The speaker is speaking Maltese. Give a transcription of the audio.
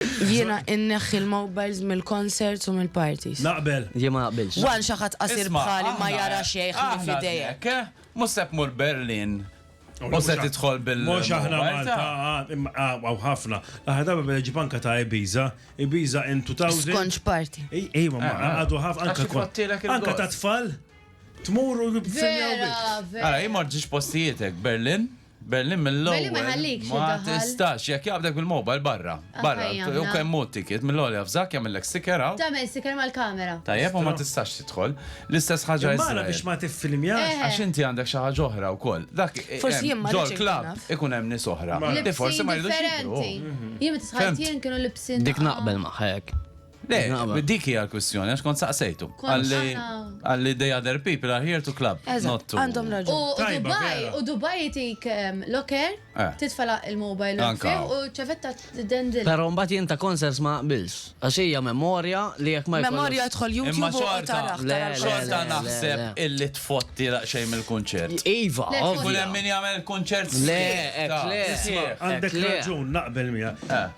Jiena inneħħi l-mobiles mill-concerts u mill-parties. Naqbel. Jien ma naqbilx. One xi ħadd qasir bħali ma jara xejn ħlief idejek. Mhux se tmur Berlin u se tidħol bil. Mhux aħna Malta, hawn ħafna. L-aħħar darba beda ġib anke ta' Ibiza, Ibiza in 2000. Skonġ party. Ejwa, ma għadu ħafna anke. Anke ta' tfal. Tmur u jibżiljaw. Ara, jien ma rġiex postijiet hekk Berlin. Belli mill-ewwel. Belli ma jħallikx Ma iddaħħal. tistax, jekk jaqbdek bil-mobile barra. Ah, Barra, ħajja u aħna. kemm hu t-ticket mill-għoli afżak jagħmillek sticker hawn. Tagħmel sticker mal-kamera. Tajjeb u ma tistax tidħol. L-istess ħaġa Imma ara Iżrael. biex ma tiffilmjax. Eh. Għax inti għandek xi ħaġa oħra wkoll. Dak eh, Forsi hemm- jien ma ġol rridx inkun club naf. ikun hemm nies oħra. Mela. Li forsi Libsin ma jridux jidhru. differenti. Jien meta Femt. tħajt jien kienu libsin. Dik naqbel magħha hekk. Le, dik hija l-kwistjoni, għax kont saqsejtu. Għalli they other people are here to club, not to. Għandhom raġun. U Dubai, u Dubai jitik ehm, locker, eh. titfala il-mobile u ċavetta t-dendil. Pero mbagħad jien ta' konsens ma qbils. Għax hija memorja li jekk ma Memorja tħol YouTube u taraħ. Le, xorta naħseb illi tfotti xejn mill-kunċert. Iva, ovvja. Kull min jagħmel kunċert. Le, le. Għandek raġun naqbel miegħek. Eh.